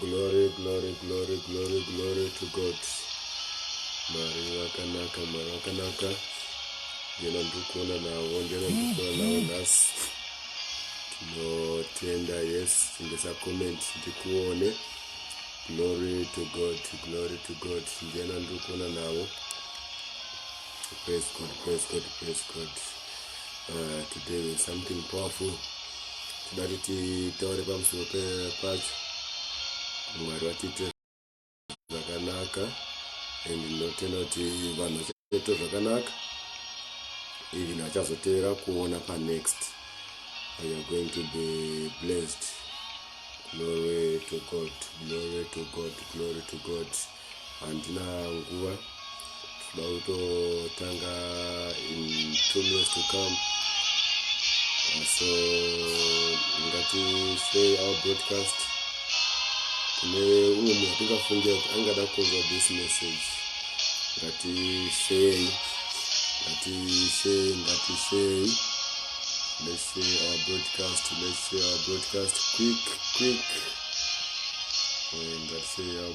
glory glory glory glory glory to god mari vakanaka mari vakanaka ndiyena ndiri kuona navo ndiyena ndiri kuona navo nhasi tinotenda yes tindisa comment ndikuone glory to god glory to god ndiyena ndiri kuona navo Praise God, praise God, praise God. Uh, today we have something powerful. Toda kuti taure pamusoro pacho. Mwari vatiite zvakanaka and ndinotenda kuti vanhu vachaita zvakanaka even vachazoteera kuona pa next. You are going to be blessed. Glory to God, glory to God, glory to God. handina nguva tinoda kutotanga in two minutes to come uh, so ngatisey our broadcast kune umwe munhu atingafungira kuti angada kunzwa this message ngatisey ngatisey ngatisey let's say our broadcast let's say our broadcast quick quick and let's say our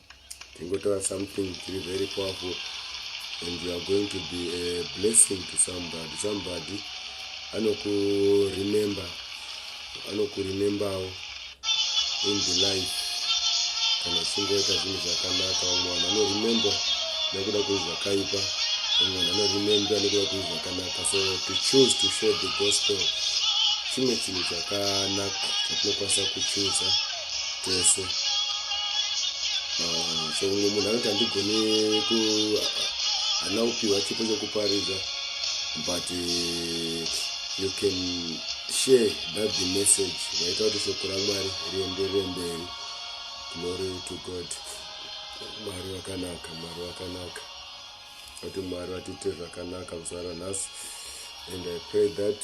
ndingotaura something tiri very powerful and you are going to be a blessing to somebody somebody anokuremember anokuremembawo in the life kana uchingoita zvinhu zvakanaka vamwe vanhu vanoremember nekuda kwezvakaipa vamwe vanhu vanoremember nekuda kwezvakanaka so to choose to share the gospel chimwe chinhu chakanaka chatinokwanisa kuchuza tese ah, so mumwe munhu anoti handigone ku hana kupiwa chipo chekuparidza but eh, you can share that the message vaita kuti shoko ramwari rienderere mberi glory to god mwari vakanaka mwari vakanaka kuti mwari vatiite zvakanaka muzvara nhasi and i pray that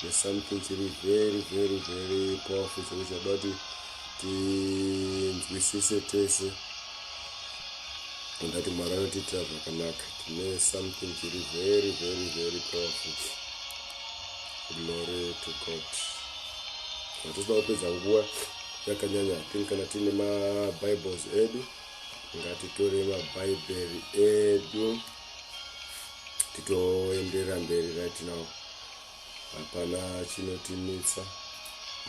there's something chiri very very very powerful chiri chada kuti tinzwisise tese ungati mwari anotiitira zvakanaka tine something chiri very very very powerful glory to god hatitoda kupedza nguva yakanyanya tini kana tiine mabibles edu ngatitore mabhaibheri edu titoenderera mberi right now hapana chinotimitsa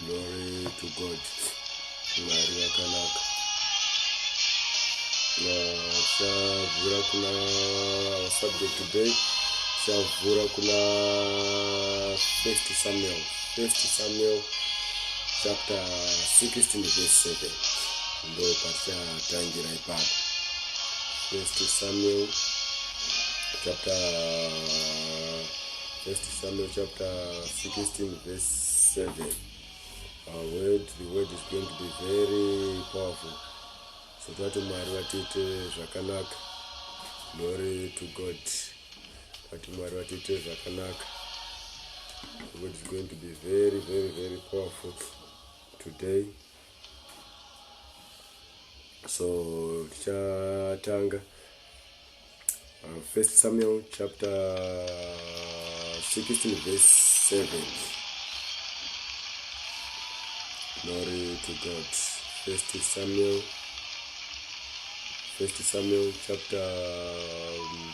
glory to god mwari vakanaka chavhura kuna subject today chavhura kuna first samuel first samuel chapter 16 verse 7 ndo patichatangira ipapo first samuel chapter first samuel chapter 16 verse 7 our word the word is going to be very powerful so tati mwari vatiite zvakanaka glory to god tati mwari vatiite zvakanaka the word is going to be very very very powerful today so tichatanga uh, first samuel chapter 16 verse 7 glory to god first samuel first samuel chapter um,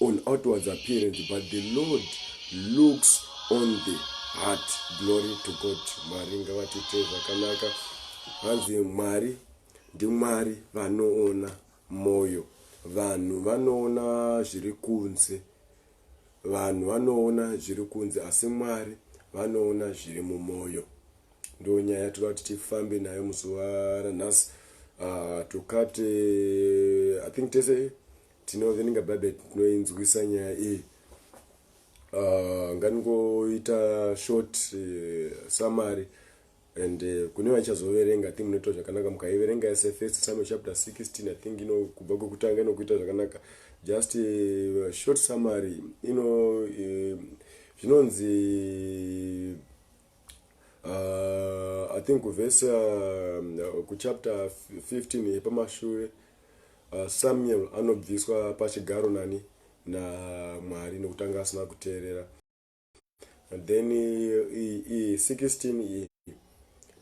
on outwards appearance but the lord looks on the heart glory to god mwari ngavatiitei zvakanaka hanzi mwari ndimwari vanoona mwoyo vanhu vanoona zviri kunze vanhu vanoona zviri kunze asi mwari vanoona zviri mumwoyo ndo nyaya yatoda kuti tifambe nayo muzuva ranhasi uh, ah, tokate i think tese tinoverenga bhaibheri tinoinzwisa nyaya iyi uh, nganingoita short uh, eh, samary and uh, kune vachazoverenga ti munoitwa zvakanaka mukaiverenga yese first samuel chapter 16 i think ino kubva kwekutanga inokuita zvakanaka just uh, short summary ino uh, zvinonzi uh, i think kuvhesi uh, kuchapter 15 yepamashure uh, samuel anobviswa pachigaro nani namwari nekutanga asina kuteerera and then iyi 16 iyi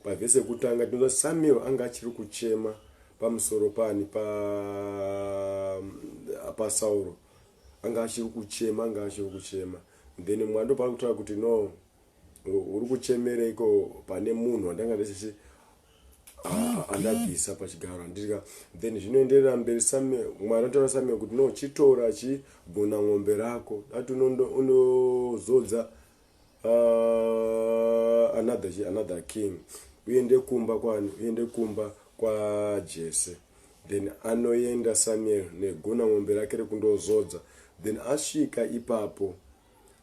pavhesi yekutanga tinoza samuel anga achiri kuchema pamusoro pani pa pasauro anga achiri kuchema anga achiri kuchema then mwando paari kutaura kuti no uri kuchemereiko pane munhu wandanga ndisisi ah, andabvisa pachigaro andirika then zvinoenderera mberi same mwari anotaura same kuti no chitora chigona ng'ombe rako dati unozodza ah, another, another king uende kumba kwani uende kumba kwajese then anoenda samuel negona ng'ombe rake rekundozodza then asvika ipapo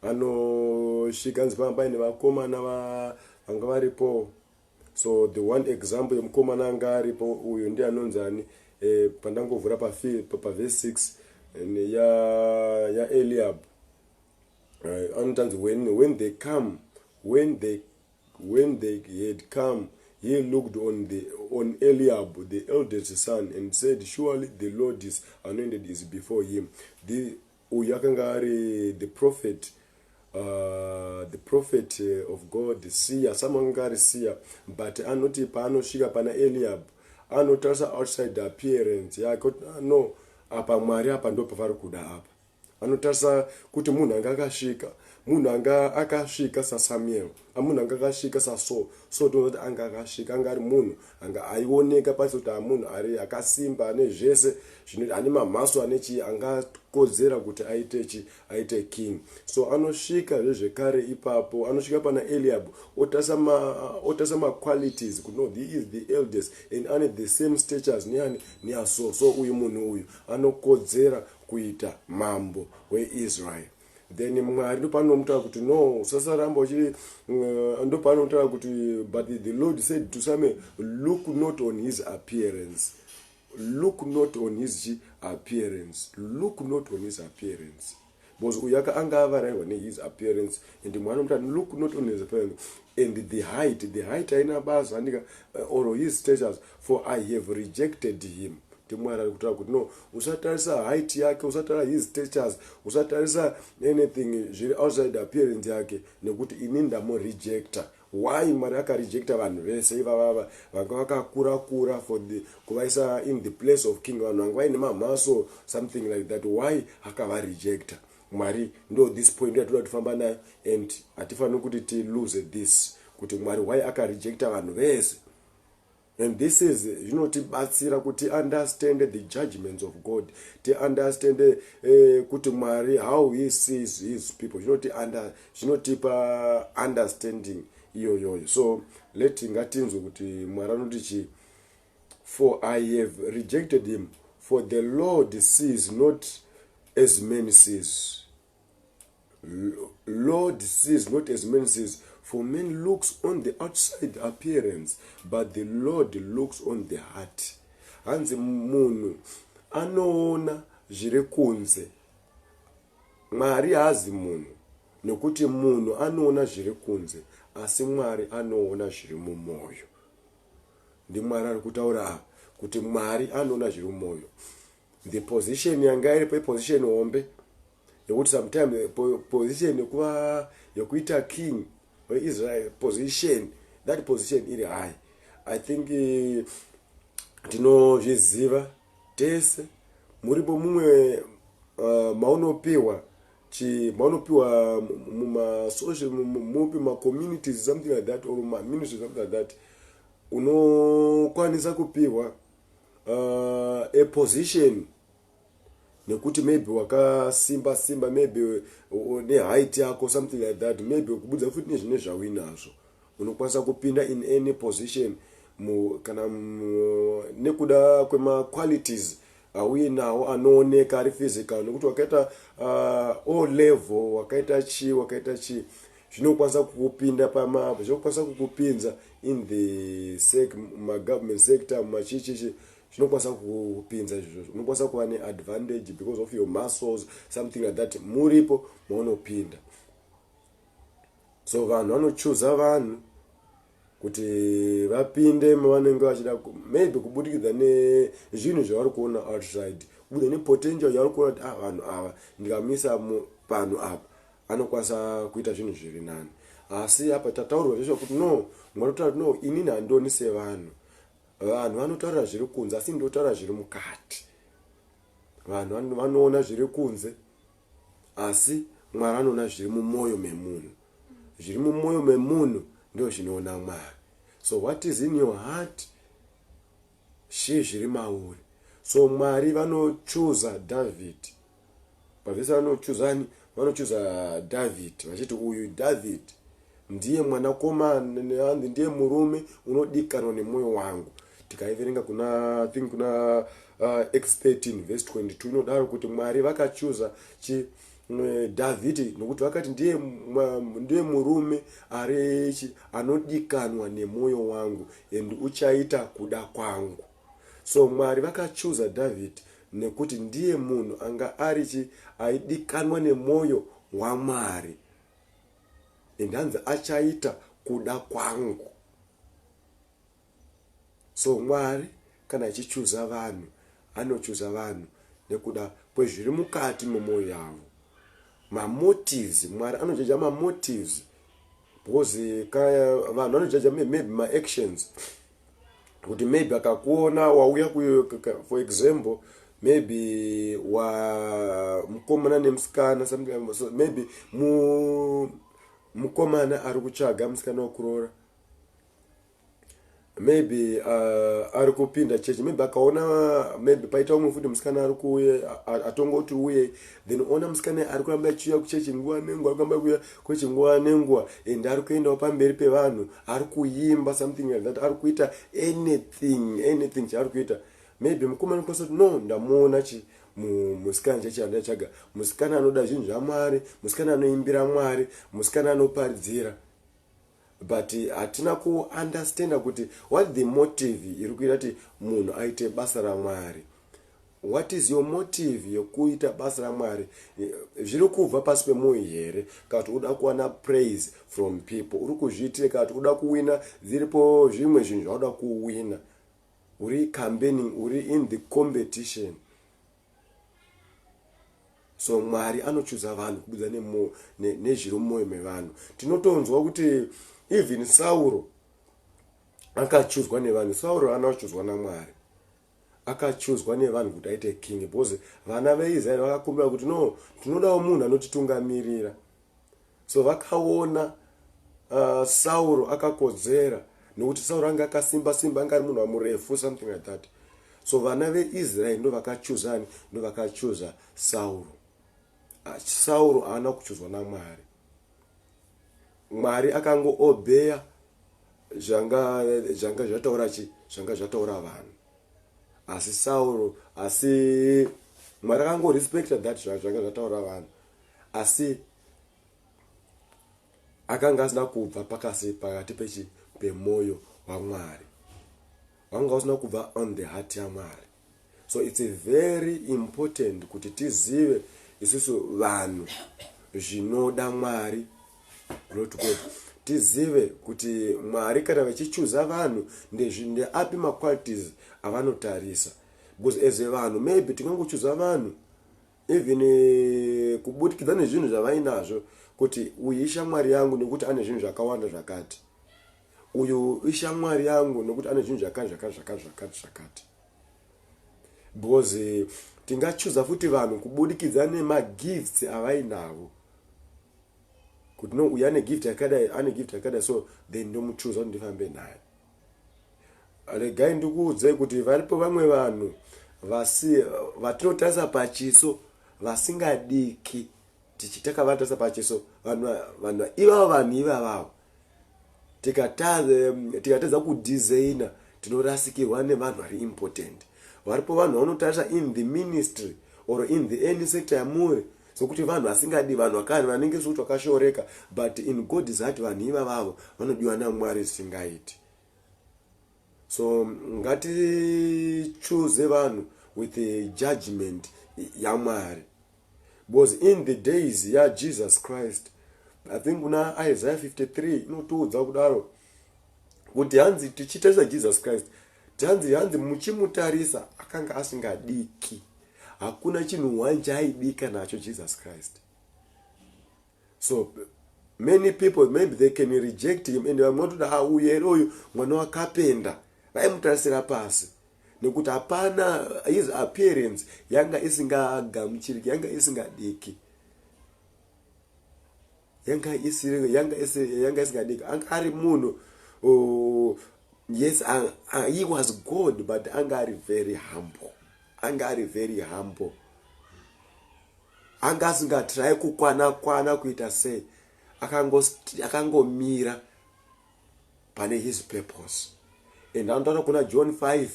anosvika anzi panga paine vakomana vanga varipo so the one example yemukomana anga aripo uyu ndi anonzi ani eh, pandangovhura pavese 6 ya, ya eliab uh, eh, anotanzi when, when they come when they, when they had come he looked on, the, on eliab the eldest son and said surely the lord is anointed is before him the, Uyu akanga ari the prophet uh, the prophet of God siya some akanga ari siya but anoti paanosvika pana Eliab anotarisa outside appearance yake kuti ah, no apa Mwari apa ndo pavari kuda apa anotarisa kuti munhu anga akasvika munhu anga akasvika saSamuel amunhu anga akasvika saso so tinoona kuti anga akasvika anga ari munhu anga aioneka paisa kuti amunhu ari akasimba ane zvese zvinoiti ane mamhaso ane chii angakodzera kuti aite chi aite king so anosvika zvezvekare ipapo anosvika pana eliab otarisa maqualities kuti no he is the eldest and ane the same statures neani neaso so uyu munhu uyu anokodzera kuita mambo weisrael then mwari ndopanomutaura kuti no usasaramba uchiri uh, ndopanomutaura kuti but the lord said to same look not on his appearance look not on his chi appearance look not on his appearance because uyu aka anga avarairwa nehis appearance and mwari nomuta look not on his appearance and the height the height aina basa andika uh, or his status For I have rejected him kuti mwari ari kutaura kuti no usatarisa height yake usatarisa his statures usatarisa anything zviri outside appearance yake nekuti ini ndamurejecta why mwari akarejecta vanhu vese ivavava vanga vakakura kura for the kuvaisa in the place of king vanhu vanga vaine mamhaso something like that why akavarejecta mwari ndo this point yatoda kutifamba nayo and hatifaniri kuti tilose this kuti mwari why akarejecta vanhu vese And this is zvinotibatsira kuti understand the judgments of God ti understand eh, kuti Mwari how he sees his people zvinoti under zvinotipa understanding iyoyoyo so let ngatinzwe kuti Mwari anoti chi for I have rejected him for the Lord sees not as men sees Lord sees not as man sees, for man looks on the outside appearance, but the Lord looks on the heart. Hanzi munhu anoona zviri kunze, Mwari haazi munhu, nokuti munhu anoona zviri kunze, asi Mwari anoona zviri mumwoyo. NdiMwari ari kutaura kuti Mwari anoona zviri mumwoyo. the position yanga iripo iposition hombe yekuti sometime position yekuva yekuita king weisrael position that position iri high i think eh, tinozviziva tese muripo mumwe eh, maunopiwa maunopiwa mumasocial mupi macommunities something like that or maministry something like that unokwanisa kupiwa uh, a position nekuti maybe wakasimba simba maybe neheight yako something like that maybe kubudza futi nezvine zvauinazvo unokwanisa kupinda in any position mu, kana mu, nekuda kwemaqualities auye nawo anooneka ari physical nekuti wakaita uh, o level wakaita chii wakaita chii zvinokwanisa kukupinda pamapa zvinokwanisa kukupinza in the sec magovernment sector machichichi zvinokwanisa kukupinza izvozvo unokwanisa kuva neadvantage because of your muscles something like that muripo maunopinda so vanhu vanochuza vanhu kuti vapinde mavanenge vachida maybe kubudikidza nezvinhu zvavari kuona outside kubudikidza nepotential yavari kuona kuti ah vanhu ava ndikamisa panhu apa anokwanisa kuita zvinhu zviri nani asi apa tataurwa zvesva kuti no mwari kutaura kuti no inini handioni sevanhu vanhu vanotaura zviri kunze asi ndotaura zviri mukati vanhu vanoona zviri kunze Asi Mwari anoona zviri mumoyo memunhu. Zviri mumoyo memunhu ndoo zvinoona Mwari. So what is in your heart she zviri mauri. So Mwari vanochuza David. Pavese vanochuza ani? Vanochuza David vachiti uyu David Ndiye mwanakomana and ndiye murume unodikanwa nemwoyo wangu. Tikaiverenga kuna I think kuna uh, Acts 13 verse 22 inodaro kuti Mwari vakachuza chi eh, Dhavhidhi nokuti vakati ndiye, mwa- ndiye murume ari chi- anodikanwa nemwoyo wangu and uchaita kuda kwangu. So Mwari vakachuza Dhavhidhi nekuti ndiye munhu anga ari chi aidikanwa nemwoyo waMwari. and hanzi achaita kuda kwangu so mwari kana achichuza vanhu anochuza vanhu nekuda kwezviri mukati memwoyo yavo mamotives mwari anojaja mamotives because vanhu vanojaja maybe maactions kuti maybe akakuona wauya for example maybe wa mukomana nemusikana so maybe mu mukomana ari kutsvaga musikana wekuroora maybe uh, ari kupinda chechi maybe akaona maybe paita umwe futi musikana ari kuuye atongoti uye then ona musikana ari kuramba achiuya kuchechi nguva nenguva ari kuramba kuuya kwechi nguva nenguva and ari kuendawo pamberi pevanhu ari kuimba something like that ari kuita anything anything chaari kuita maybe mukomana kose kuti no ndamuona chi musikana chachanda chaga musikana anoda zvinhu zvamwari musikana anoimbira mwari musikana anoparidzira but hatina kuunderstanda kuti what the motive iri kuita kuti munhu aite basa ramwari What is your motive yekuita basa raMwari? Zviri kubva pasi pemoyo here kana kuti uda kuwana praise from people? Uri kuzviitire kana kuti uda kuwina zviripo zvimwe zvinhu zvauda kuwina. Uri campaigning, uri in the competition. So Mwari anochuza vanhu kubudza nemoyo nezviri mumoyo mevanhu. Tinotonzwa kuti even Sauro akachuzwa nevanhu. Sauro ana kuchuzwa naMwari. akachuzwa nevanhu kuti aite king because vana veisraeri vakakumbira kuti no tinodawo munhu anotitungamirira so vakaona uh, sauro akakodzera nokuti sauro anga akasimba simba anga ari munhu amurefu something like that so vana veisraeri ndo vakachuzani ndo vakachuza sauro ah, sauro haana kuchuzwa namwari Mwari akango obeya zvanga zvanga zvataura chi zvanga zvataura vanhu asi Sauro asi Mwari akango respecta that zvanga zvataura vanhu asi akanga asina kubva pakasi pakati pechi pemoyo waMwari wanga usina kubva on the heart yaMwari so its very important kuti tizive isusu vanhu zvinoda mwari glory to god tizive kuti mwari kana vachichuza vanhu ndeapi maqualities avanotarisa because as vanhu maybe tingangochuza vanhu even eh, kubudikidza nezvinhu zvavainazvo kuti uyu ishamwari yangu nekuti ane zvinhu zvakawanda zvakati uyu ishamwari yangu nokuti ane zvinhu zvakati zvakati zvakati zvakati zvakati because tingachuza futi vanhu kubudikidza nemagifts avainavo kuti no uyu ane gift yakadai ane gift yakadai so then ndomuchuza kuti ndifambe naye regai ndikuudzei kuti varipo vamwe vanhu vasi vatinotarisa pachiso vasingadiki tichitaka vanotarisa pachiso vanhu ivavo vanhu ivavavo tikatadza kudesigner tinorasikirwa nevanhu vari important varipo vanhu vanotarisa in the ministry or in the any sector yamuri sokuti vanhu vasingadi vanhu vakani vanenge sokuti vakashoreka but in god is ati vanhu iva vavo vanodiwa namwari zvisingaiti so ngatichuze vanhu with judgment yamwari because in the days yajesus christ i think kuna isaiah 53 inotiudza kudaro kuti hanzi tichitarisa jesus christ hanzi hanzi muchimutarisa akanga asingadiki hakuna chinhu one chaaidika nacho jesus christ so many people maybe they can reject him and vamwe vatoda ha uyu here uyu mwana wakapenda vaimutarisira pasi nekuti hapana his appearance yanga isingagamuchiriki yanga isingadiki yanga isiri yanga isiri yanga isingadiki anga ari munhu oh, yes uh, uh, he was good but anga ari very humble anga ari very humble Anga asinga try kukwana kwana kuita sei akangomira akango pane his purpose and anotaura kuna john 5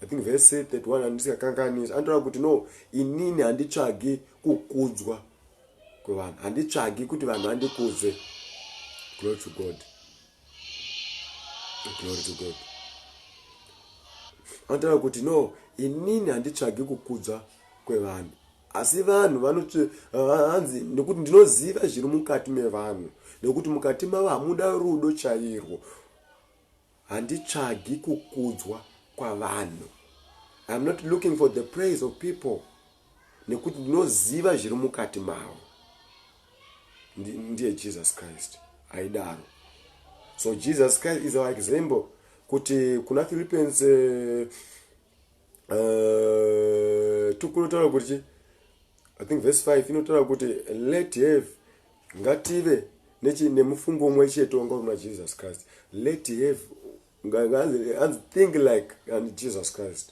i think verse 31 handisikakanganisi anotaura kuti no inini handitsvagi kukudzwa kwevanhu handitsvagi kuti vanhu vandikudze glory to god glory to god anotaura kuti no inini handitsvagi kukudza kwevanhu asi vanhu vanhanzi nekuti ndinoziva zviri mukati mevanhu nekuti mukati mavo hamuda rudo chairwo handitsvagi kukudzwa kwavanhu iam not looking for the praise of people nekuti ndinoziva zviri mukati mavo ndiye jesus christ aidaro so jesus christ is our example kuti kuna philippines uh, uh, tukunotaura kuti chi i think verse 5 inotaura kuti let have ngative nechi nemufungo umwe chete wanga uri muna jesus christ let have think like and jesus christ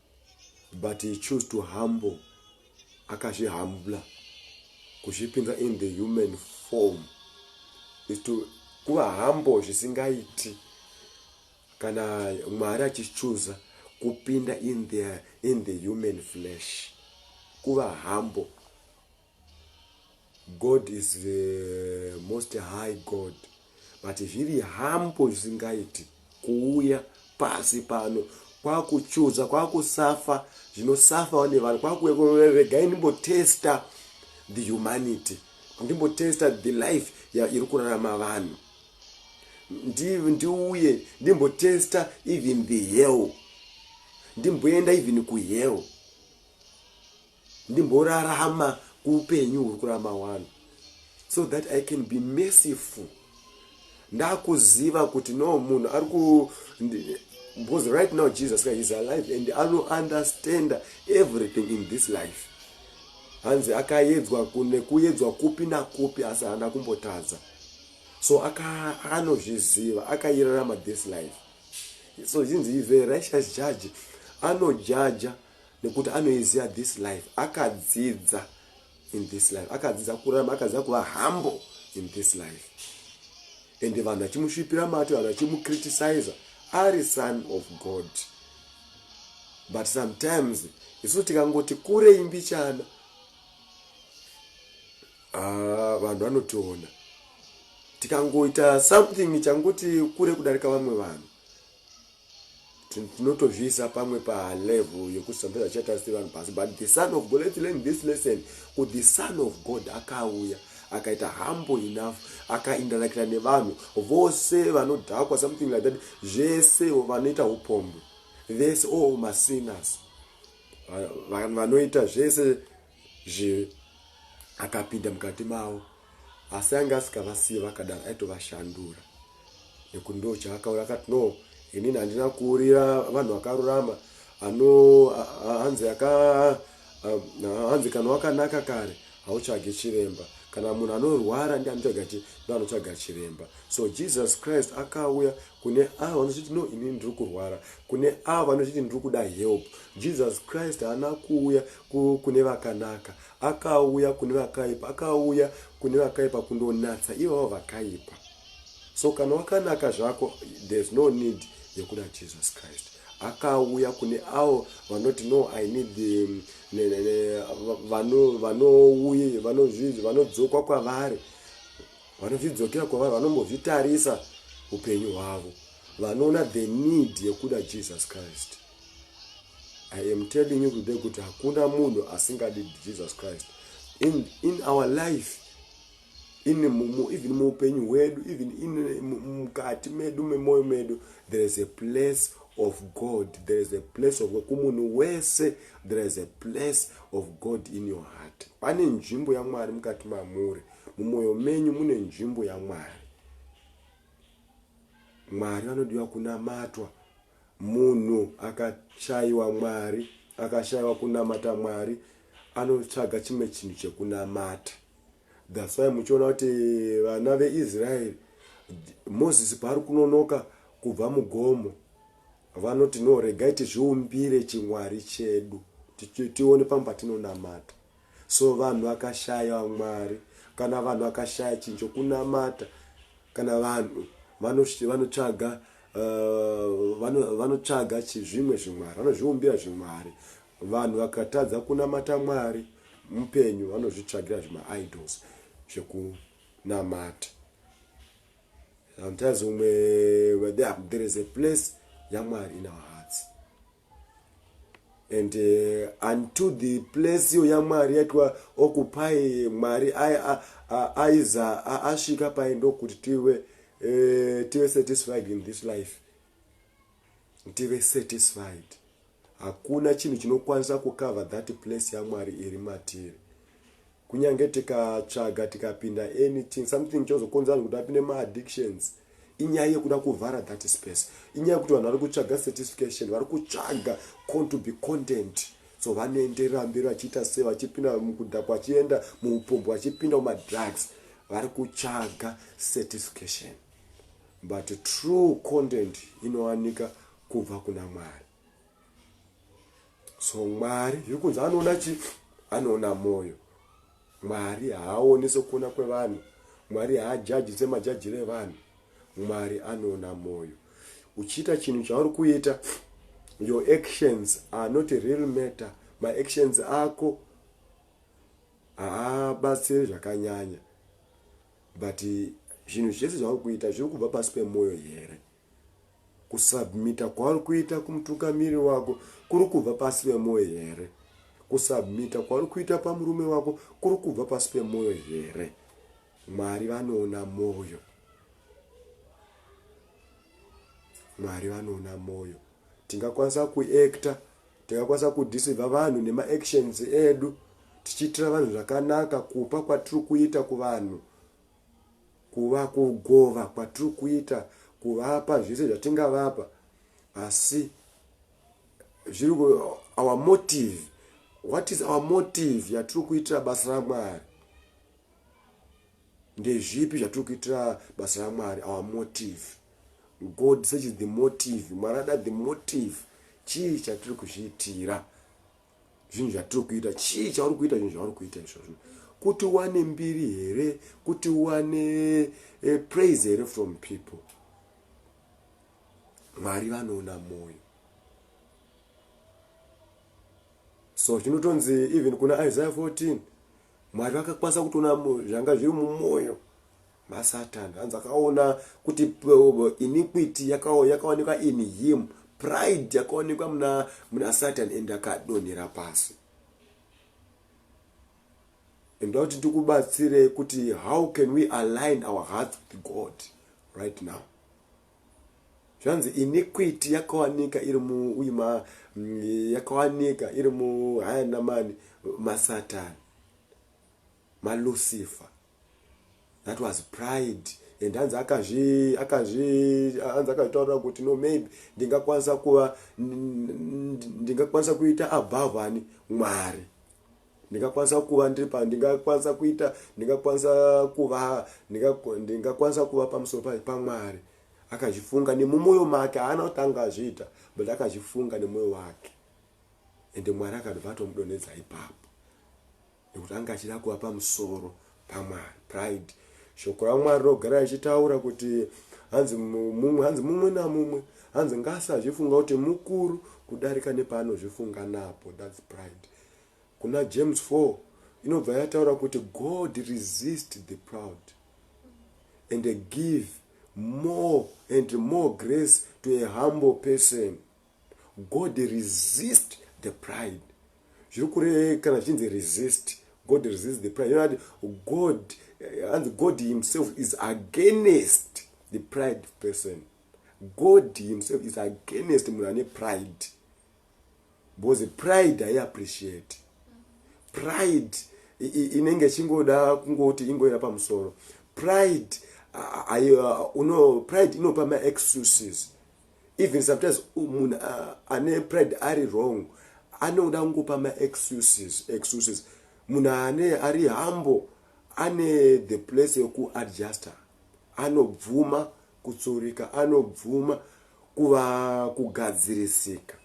but he chose to humble akazvihambla kuzvipinza in the human form is to kuva humble zvisingaiti kana mwari achichuza kupinda in the, in the human flesh kuva humble God is the most high God but zviri hambo zvisingaiti kuuya pasi pano kwakuchuza kwakusafa zvinosafawo nevanhu kwakuregai ndimbotesta the humanity ndimbotesta the life iri kurarama vanhu ndiuye ndimbotesta even the hell ndimboenda even kuhell ndimborarama kuupenyu huri kurama wani so that i can be merciful ndakuziva kuti no munhu ari ku because right now jesus christ is alive and ano understand everything in this life hanzi akayedzwa nekuyedzwa kupi nakupi asi haana kumbotadza so anozviziva akayirarama this life so zhinzi ive righteous judge anojaja nekuti anoiziva this life akadzidza in this life akadzidza kurama akadzidza kuva humble in this life and vanhu vachimusvipira mate vanhu vachimucriticiza ari son of god but sometimes isu tikangoti kure imbichana ah, vanhu vanotiona tikangoita something changoti kure kudarika vamwe vanhu tinotozviisa pamwe palevel yekuti sometimes achiita sevanhu pasi but the son of god let's learn this lesson kuti the son of god akauya akaita humble enough akaindanakira nevanhu vose vanodhakwa something like that zvese vanoita upombo vese all oh, masinners vanoita zvese zve akapinda mukati mavo asi anga asikavasiye vakadaro aitovashandura nekuti ndo chaakaura akati no inini handina kuurira vanhu vakarurama ano hanzi aka hanzi kana wakanaka kare hautsvage chiremba kana munhu anorwara ndi anotsvaga chi ndo anotsvaga chiremba so jesus christ akauya kune avo vanozviti no inini ndiri kurwara kune avo vanozviti ndiri kuda help jesus christ haana kuuya kune vakanaka akauya kune vakaipa akauya kune vakaipa kundonatsa ivavo vakaipa so kana wakanaka zvako there's no need yekuda jesus christ akauya kune avo vanoti no i need um, vanouye vanodzoka kwavari vanozvidzokera kwavari vanombozvitarisa upenyu hwavo vanoona the need yekuda jesus christ i am telling you today kuti hakuna munhu asingadi jesus christ in, in our life in mumu even muupenyu hwedu even in mukati medu memoyo medu there is a place of god there is a place of kumunhu wese there is a place of god in your heart pane nzvimbo yamwari mukati mamuri mumwoyo menyu mune nzvimbo yamwari mwari vanodiwa kunamatwa munhu akashaiwa mwari akashaiwa kunamata mwari anotsvaga chimwe chinhu chekunamata thats why muchiona kuti vana veisraeri moses paari kunonoka kubva mugomo vanoti no regai tizviumbire chimwari chedu tione pamwe patinonamata so vanhu vakashaya mwari kana vanhu vakashaya chinhu chokunamata kana vanhu vanotsvaga uh, vanotsvaga zvimwe zvimwari vanozviumbira zvimwari vanhu vakatadza kunamata mwari mupenyu vanozvitsvagira zvimaidols zvekunamata sometimes umwe there is a place yamwari in our hearts and uh, unto the place iyo yamwari yaitwa okupai mwari aiza asvika pai ndokuti tive uh, tive satisfied in this life tive satisfied hakuna chinhu chinokwanisa kucover that place yamwari iri matiri kunyange tikatsvaga tikapinda anything something chozokonza vanhu kuti vapinde maaddictions inyaya yekuda kuvhara that space inyaya yekuti vanhu vari kutsvaga certification vari kutsvaga con to be content so vanoenderera mberi vachiita se vachipinda mukudhakwa vachienda muupombo vachipinda mumadrugs vari kutsvaga certification but true content inowanika kubva kuna mwari so mwari zviri kunzi anoona chi anoona mwoyo mwari haaoni sekuona kwevanhu mwari haajaji semajajiro evanhu mwari anoona mwoyo uchiita chinhu chauri kuita your actions are not a real matter maactions ako haabatsiri zvakanyanya but zvinhu zvese zvauri kuita zviri kubva pasi pemwoyo here Kusubmita kwauri kuita kumutungamiriri wako kuri kubva pasi pemwoyo here? Kusubmita kwauri kuita pamurume wako kuri kubva pasi pemwoyo here? Mwari vanoona mwoyo. Mwari vanoona mwoyo. Tingakwanisa kuekta, tingakwanisa kudisivha vanhu nemaactions edu tichiitira vanhu zvakanaka kupa kwatiri kuita kuvanhu kuva kugova kwatiri kuita kuvapa zvese zvatingavapa asi zviri our motive what is our motive yatiri kuitira basa ramwari ndezvipi zvatiri kuitira basa ramwari our motive god searches the motive mwari ada the motive chii chatiri kuzviitira zvinhu zvatiri kuita chii chauri kuita zvinhu zvauri kuita izvozvo kuti wane mbiri here kuti wane eh, praise here from people mwari vanoona mwoyo so chinotonzi even kuna isaiah 14 mwari vakakwanisa kutoona zvanga zviri mumwoyo masatan hanzi akaona kuti iniquity yakaonekwa in him pride yakaonekwa muna, muna satan and akadonhera pasi ndoda kuti ndikubatsirei kuti how can we align our hearts with god right now zvanzi iniquity yakawanika iri muima mm, yakawanika iri muhayanamani masatani malucifer that was pride and hanzi akazvi akazvi hanzi akazvitaurira kuti no maybe ndingakwanisa kuva ndingakwanisa kuita above ani mwari ndingakwanisa kuva ndiri pa ndingakwanisa kuita ndingakwanisa kuva ndingakwanisa kuva pamusoro pai pamwari akazvifunga nemumwoyo make haana kuti anga azviita but akazvifunga nemwoyo wake ende mwari akabva atomudonedza ipapo Nekuti anga achida kuva pamusoro paMwari, pride. Shoko raMwari rogara richitaura kuti hanzi mumwe, hanzi mumwe namumwe, hanzi ngaasazvifunga kuti mukuru kudarika nepaanozvifunga napo. That's pride. Kuna James 4 inobva yataura kuti God resist the proud and give more and more grace to a humble person. God resist the pride zviri kure kana zvichinzi resist God resist the pride yonati God hanzi eh, God himself is against the pride person God himself is against munhu ane pride because pride hai appreciate pride inenge ichingoda kungoti ingoira pamusoro pride ayo uno pride inopa maexcuses even sometimes munhu ane pride ari wrong anoda kungopa maexcuses excuses munhu ane ari hambo ane the place yekuadjuster anobvuma kutsurika anobvuma kuva kugadzirisika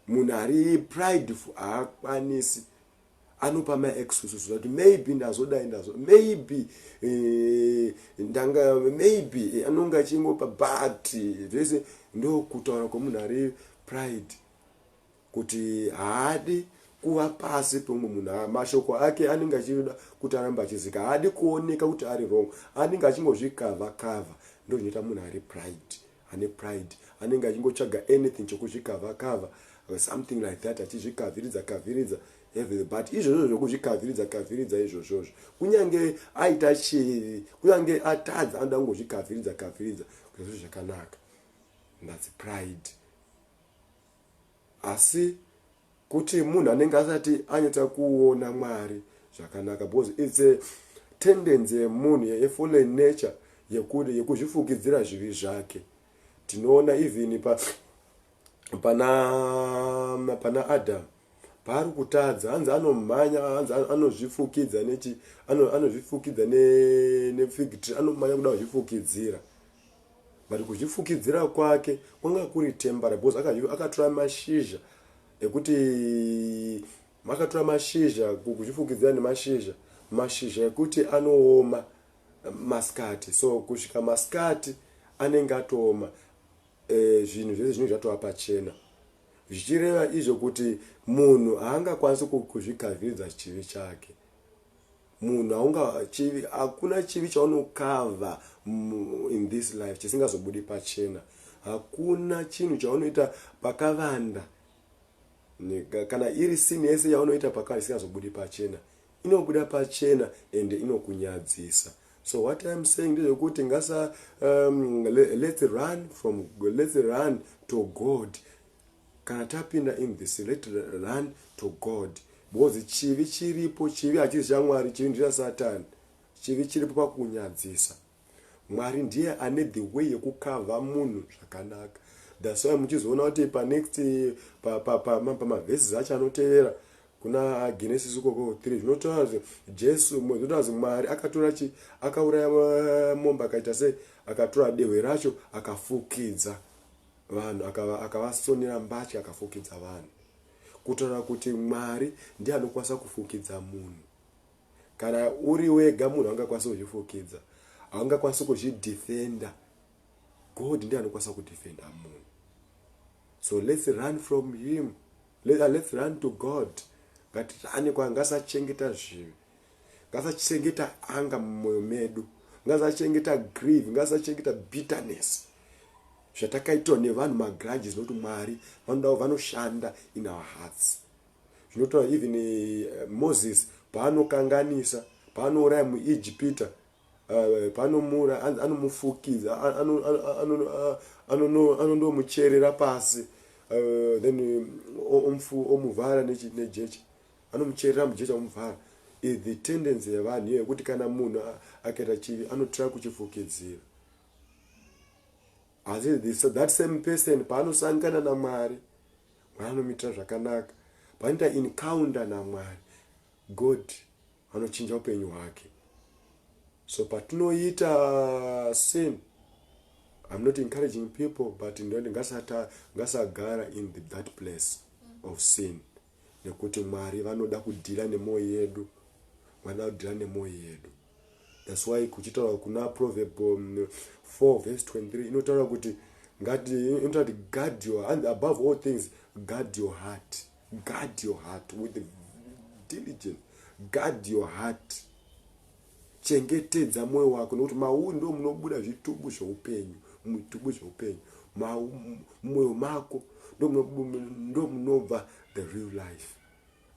munhu ari prideful haakwanisi anopa ma excuses zvati maybe ndazodai ndazo maybe eh, ndanga maybe eh, anonga achingopa but zvese ndokutaura kwemunhu ari pride kuti haadi kuva pasi pemumwe munhu ah, mashoko ake anenge achida kuti aramba achizika haadi kuoneka kuti ari wrong anenge achingozvikava kava ndozvinoita munhu ari pride ane pride anenge achingotsvaga anything chokuzvikavha kavha or something like that achizvikavhiridza kavhiridza everything but izvozvo zvokuzvikavhiridza kavhiridza izvozvozvo kunyange aita chivi kunyange atadza anoda kungozvikavhiridza kavhiridza kuzvizvo zvakanaka that's pride Asi kuti munhu anenge asati anyatsa kuona Mwari zvakanaka because it's a tendency yemunhu a fallen nature yekuti yekuzvifukidzira zvivi zvake. Tinoona even pa pana pana Adam paari kutadza hanzi anomhanya hanzi anozvifukidza nechi anozvifukidza ne ne fig tree anomhanya kuda kuzvifukidzira. but kuzvifukidzira kwake kwanga kuri tembara because akatora mashizha ekuti makatora mashizha kuzvifukidzira nemashizha mashizha ekuti anooma masikati so kusvika masikati anenge atooma e, zvinhu zvese zvinenge zvatova pachena zvichireva izvo kuti munhu haangakwanisi kuzvigaviridza chivi chake Munhu aunga chivi hakuna chivi chaunokava in this life chisingazobudi pachena. Hakuna chinhu chaunoita pakavanda kana iri sini yese yaunoita pakavanda isingazobudi pachena. Inobuda pachena and inokunyadzisa. So what I'm saying ndezvekuti ngasa um, let's run from let's run to God. Kana tapinda in this let run to God because chivi chiripo chivi hachisi chaMwari chivi ndicha Satan chivi chiripo pakunyadzisa Mwari ndiye ane the way yekukavha munhu zvakanaka that's why muchizoona kuti panext pamavhesis acho anotevera kuna genesis ukoko 3 zvinotaura kuti jesu zvinotaura kuti mwari akatora chi akauraya mombe akaita se akatora dehwe racho akafukidza Vanhu akava akavasonera mbatya akafukidza vanhu kutaura kuti Mwari ndiye anokwanisa kufukidza munhu kana uri wega munhu angakwanisa kuzvifukidza haungakwanisi kuzvidefenda God ndiye anokwanisa kudefenda munhu so let's run from him Let, let's run to God ngatirane kwa ngasachengeta zvivi ngasachengeta anga mumwoyo medu ngasachengeta grieve ngasachengeta bitterness zvatakaitwa nevanhu magrudges zvinoti mwari vanodawo vanoshanda in our hearts zvinotaura even uh, moses paanokanganisa paanouraya muijipita Uh, panomura anomufukidza anondomucherera pasi uh, then uh, omuvhara nejecha anomucherera mujecha omuvhara is the tendency yevanhu iyo yekuti kana munhu akaita chivi anotira kuchifukidzira asi that same person paanosangana namwari mwari anomuitira zvakanaka panoita encounter namwari god anochinja upenyu hwake so patinoita sin i'm not encouraging people but ndoti ngasagara in the, that place of sin nekuti mwari vanoda kudhira nemwoyo yedu vanoda kudhira nemwoyo yedu thats why kuchitaura kuna proverb 4 um, vese 23 inotaura kuti ngati inotaura kuti guard your and above all things guard your heart Guard your heart with diligence. Guard your heart. Chengetedza moyo wako nekuti mauri ndo munobuda zvitubu zveupenyu, mutubu zveupenyu. Moyo mako ndo munobva the real life.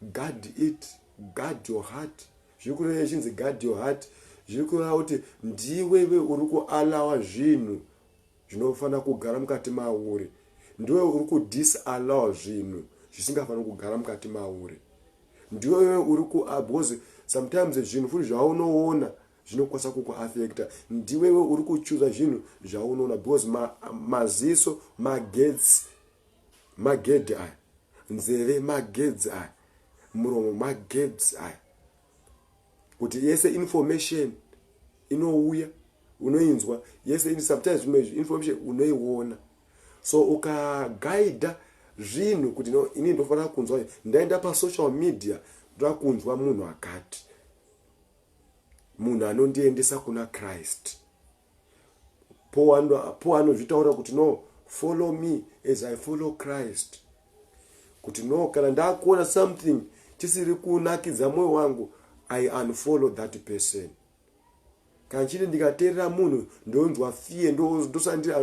Guard it, guard your heart. Zviri kureva chinzi guard your heart. Zviri kureva kuti ndiwe iwe uri kualawa zvinhu Zvinofanira kugara mukati mauri. Ndiwe uri kudisallow zvinhu zvisingafaniri kugara mukati mauri. Ndiwe uri ku ah, because sometimes zvinhu futi zvaunoona zvinokwanisa kukuaffecta. Ndiwewe uri kuchuza zvinhu zvaunoona because maziso ma, magetsi magedhi aya, nzeve magedzi aya, muromo magedzi aya. kuti yese information inouya unoinzwa yese sometimes zvimwe information unoiona so ukaguida zvinhu kuti no ini ndofanira kunzwa ndaenda pasocial media ndoda kunzwa munhu akati munhu anondiendesa kuna christ paul anozvitaura kuti no follow me as i follow christ kuti no kana ndakuona something chisiri kunakidza mwoyo wangu i unfollow that person kana chiri ndikateerera munhu ndonzwa fear ndosara ndiri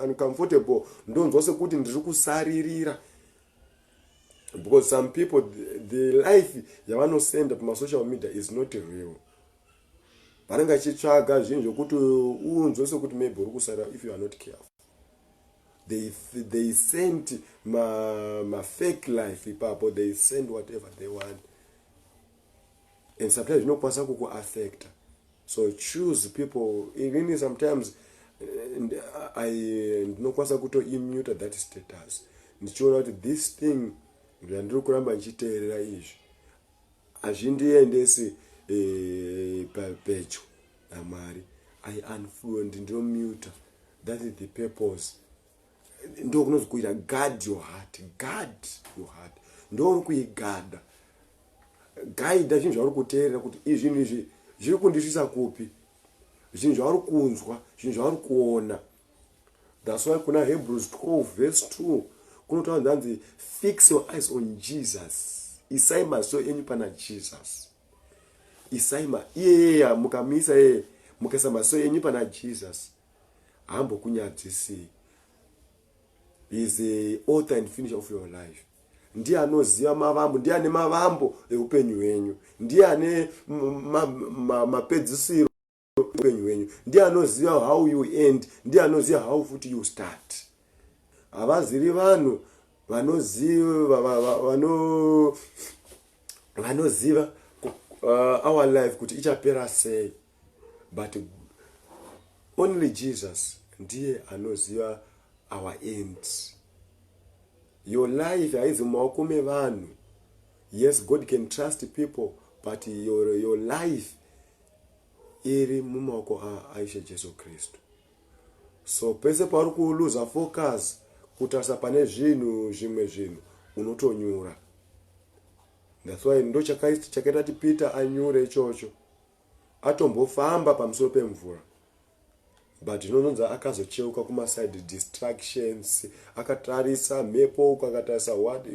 uncomfortable ndonzwa sekuti ndiri kusaririra because some people the life yavanosenda pamasocial media is not real vanenge vachitsvaga zvinhu zvokuti unzwe sokuti maybe uri kusara if you are not careful they, they sent mafake ma life ipapo they send whatever they want and sometimes zvinokwanisa kukuaffecta so choose people even sometimes eh, ndinokwanisa kutoimuta that status ndichiona kuti this thing ndandiri kuramba ndichiteerera izvi hazvindiendesi eh, pedyo namwari i unfollow ndinomuta that is the purpose ndokunozi kuita guard your heart guard your heart ndouri kuigada gaida zvinhu zvauri kuteerera kuti izvinhu izvi zviri kundisvisa kupi zvinhu zvauri kunzwa zvinhu zvauri kuona That's why kuna Hebrews 12 verse 2 kunotaura zvanzi fix your eyes on Jesus. Isai maso enyu pana Jesus. Isai ma iyeyeya mukamisa yeye mukaisa maso enyu pana Jesus hambokunyadzisii. He is the author and finisher of your life. Ndiye anoziva mavambo, ndiye ane mavambo eupenyu hwenyu, ndiye ane mapedzisiro. upenyu hwenyu ndiye anoziva how you end ndiye anoziva how futi you start havazivi vanhu vanoziva vanoziva uh, our life kuti ichapera sei but only jesus ndiye anoziva our end your life haizi mumaoko mevanhu yes god can trust people but your, your life iri mumaoko aishe jesu kristu so pese pauri kuluza focus kutarisa pane zvinhu zvimwe zvinhu unotonyura that's why ndo chakaita kuti peter anyure ichocho atombofamba pamusoro pemvura but inononza akazocheuka kumaside distractions akatarisa mhepo uku akatarisa what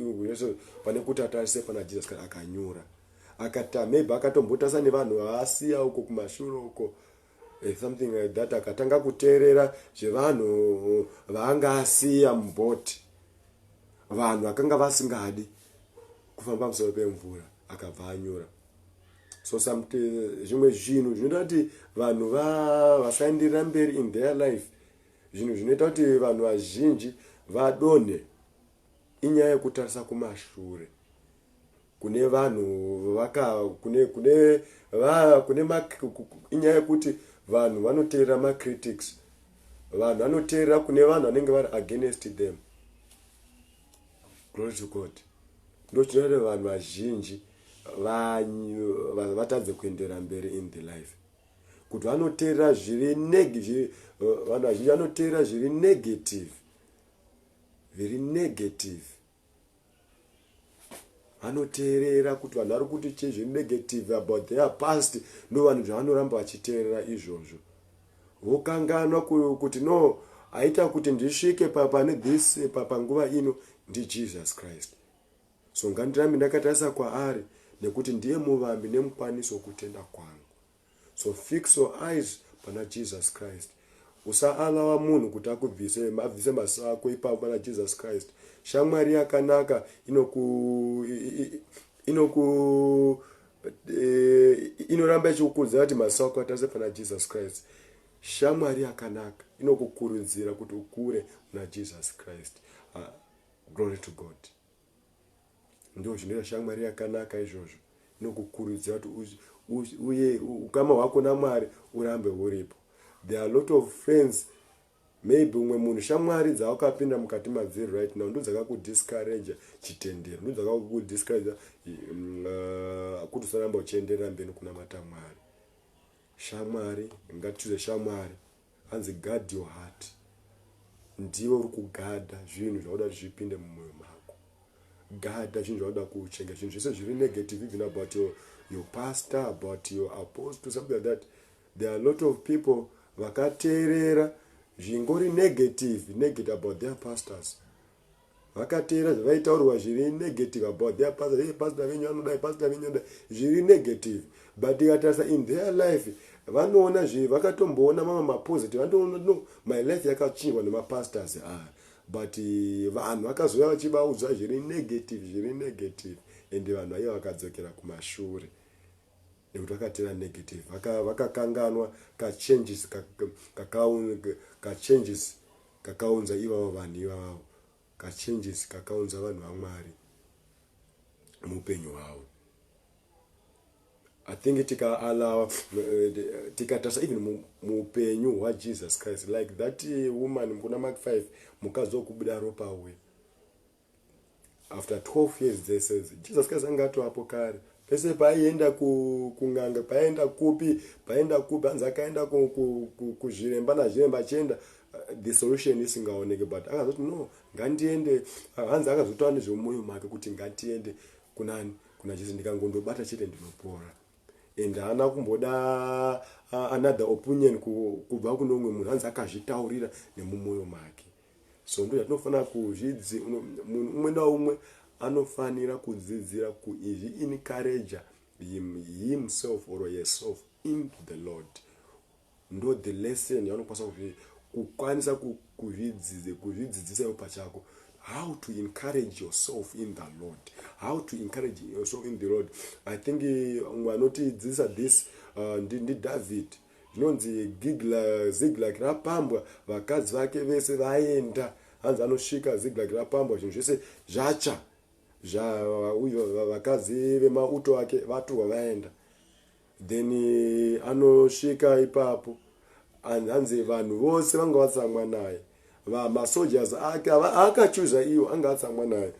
pane kuti atarise pana jesus kana akanyura akata maybe akatombotarisa nevanhu vaasiya uko kumashure uko eh, something like that akatanga kuteerera zvevanhu vaanga asiya mubhoti vanhu vakanga vasingadi kufamba musoro pemvura akabva anyora so zvimwe zvinhu zvinoita kuti vanhu vasaenderera mberi in their life zvinhu zvinoita kuti vanhu vazhinji vadonhe inyaya yekutarisa kumashure kune vanhu inyaya yekuti vanhu vanoteerera macritics vanhu vanoteerera kune vanhu vanenge vari against them glory to god ndochinoita vanhu vazhinji vatadze kuendera mberi in the life kuti vanoteerera zviri eh, vanhu vazhinji vanoteerera zviri negative very negative vanoteerera kuti vanhu vari kuti chii zviri negative about their past no vanhu zvavanoramba vachiteerera izvozvo Wokanganwa kuti no aita kuti ndisvike pane this panguva ino ndiJesus Christ. So ngandirambe ndakatarisa kwaari nekuti ndiye muvambi nemukwanisi wokutenda kwangu. So fix your eyes pana Jesus Christ. Usaalawa munhu kuti akubvise abvise maso ako ipapo pana Jesus Christ. Shamwari yakanaka inoku inoku but uh, inoramba ichikukurudzira kuti maziso ako atarisa pana jesus christ shamwari yakanaka inokukurudzira kuti ukure muna jesus christ uh, glory to god ndo zvinoita shamwari yakanaka izvozvo inokukurudzira kuti uye ukama hwako namwari urambe uripo there are lot of friends Maybe umwe munhu shamwari dzawakapinda mukati madziri right now ndodzakakudiscourager chitendero ndodzakakudiscourager mm, uh, kuti usaramba uchienderera mberi kunamata mwari shamwari ngatichuze shamwari hanzi guard your heart ndiwe uri kugadha zvinhu zvakuda kuti zvipinde mumwoyo mako gadha zvinhu zvakuda kuchenga zvinhu zvese zviri negative even about your, your pastor about your apostle something like that There are lot of people vakateerera zvingori negative negative about their pastors vakateera zvavaitaurwa zviri negative about their pastor hey, pastor venyu anodai pastor venyu anodai zviri negative but ikatarisa in their life vanoona zvi vakatomboona mamwe mapositive vanotoona no my life yakachinjwa nemapastors aya ah, but eh, vanhu vakazouya vachivaudza zviri negative zviri negative and vanhu vaiva vakadzokera kumashure nekuti vakatera negative vaka vakakanganwa ka changes ka ka ka ka changes kakaunza ivavo vanhu ivavo ka changes kakaunza vanhu vaMwari muupenyu hwavo I think tika allow eh, tika tasa even muupenyu hwa Jesus Christ like that eh, woman kuna Mark 5 mukazo kubuda ropa we after 12 years dzese jesus christ anga atoapo kare pese paaienda kun'anga paaenda kupi paaenda kupi hanzi akaenda kuzviremba nazviremba achienda uh, the solution isingaoneke but akazoti no ngandiende uh, hanzi akazotaura nezvemumoyo make kuti ngandiende kunani kuna jesu ndikangondobata chete ndinopora and haana kumboda uh, another opinion kubva kune umwe munhu hanzi akazvitaurira nemumoyo make so ndo yatinofanira kuzvidzi munhu umwe naumwe anofanira kudzidzira kuizvi encourager him, himself or herself into the lord ndo the lesson yaunokwanisa kuzvi kukwanisa kuzvidzidze kuzvidzidzisa iwo pachako how to encourage yourself in the lord how to encourage yourself in the lord i think eh, umwe anotidzidzisa this uh, ndidavid ndi Zvinonzi Zikilagi rapambwa, vakadzi vake vese vaenda. Hanzi anosvika Zikilagi rapambwa, zvinhu zvese zvatsva, vakadzi vemauto ake vatorwa vaenda. Then eh, anosvika ipapo, hanzi vanhu vose vanga vatsamwa naye, masojas ake akachuza iwo anga atsamwa naye.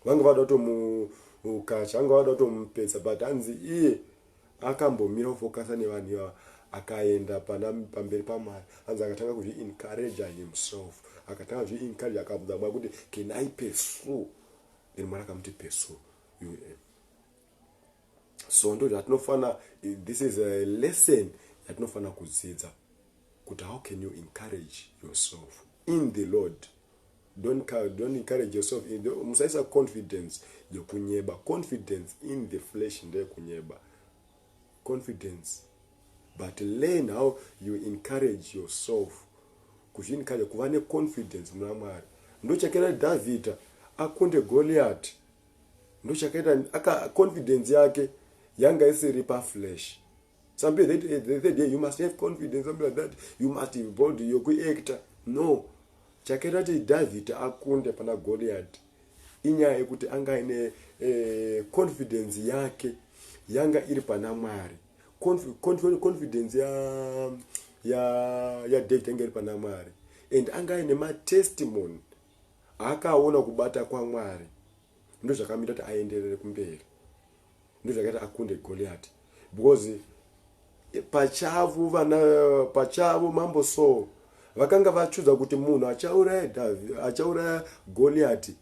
vanga vada kutomukacha vanga vada kutomupedza but hanzi iye akambomira kufokasa nevanhu ivava akaenda pana pamberi pamwari hanzi akatanga kuzviencouraja himself akatanga kuzviencouraja akabvunza mwari kuti can i pursue then mwari akamuti pursue um so ndo zvatinofanira this is a lesson yatinofanira kudzidza kuti how can you encourage yourself in the lord Don't, don't encourage yourself in the, musaisa confidence yekunyeba confidence in the flesh ndeyekunyeba confidence but learn how you encourage yourself kuzviencourage kuva neconfidence muna mwari ndochakaita dhavhidha akunde goliati ndochakaita confidence yake yanga isiri paflesh something that eh, they said hey, you must have confidence something like that you must be bold yokuactor no chakaita kuti dhavhidhi akunde pana goliati inyaya yekuti anga aine eh, confidence yake yanga iri pana mwari confidence ya ya ya david yanga iri pana mwari and anga aine matestimony aakaona kubata kwamwari ndozvakamuita kuti aenderere kumberi ndozvakaita akunde goliati because pachavo vana pachavo mambo saul vakanga vachudza kuti munhu achauraya achauraya goliati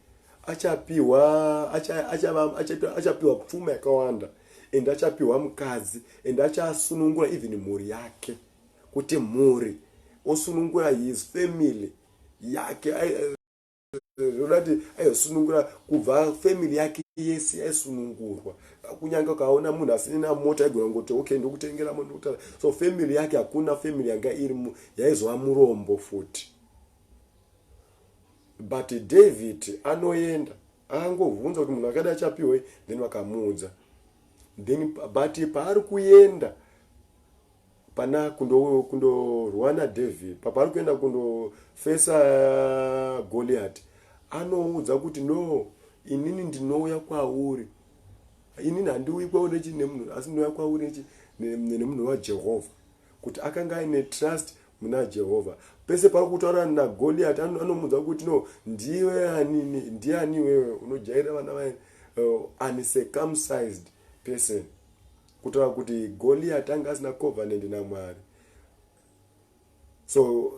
achapiwa achapiwa pfuma yakawanda and achapiwa mukadzi and achasunungura even mhuri yake kuti mhuri osunungura his family yake zvoda kuti aizosunungura kubva family yake yese yaisunungurwa kunyange kaona munhu asina mota aigona kungoti okay ndokutengera mota so family yake hakuna family yanga iri yaizova murombo futi but david anoenda akangobvunza kuti munhu akadi achapiwei then vakamuudza then but paari kuenda Hapana kundo kundo rwana David papari kuenda kundo fesa Goliath anoudza kuti no inini ndinouya kwauri inini handiuyi kwauri nechi nemunhu asi ndinouya kwauri nechi nemunhu waJehovha kuti akanga aine trust muna Jehovha pese pari kutaura na Goliath anomuudza kuti no ndiwe ani ndiani wewe unojaira vana vaye uh, uncircumcised person Kutaura kuti Goliati anga asina covenant naMwari. So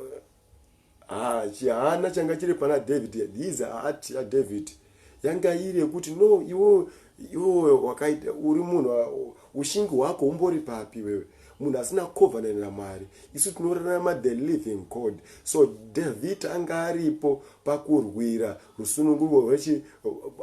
ah chihana changa chiri pana David these heart ya David yanga iri yekuti no iwo iwo wakaita uri munhu ushingi hwako umbori papi wewe munhu asina covenant naMwari isu tinorarama the living God so David anga aripo pakurwira rusununguko rwechi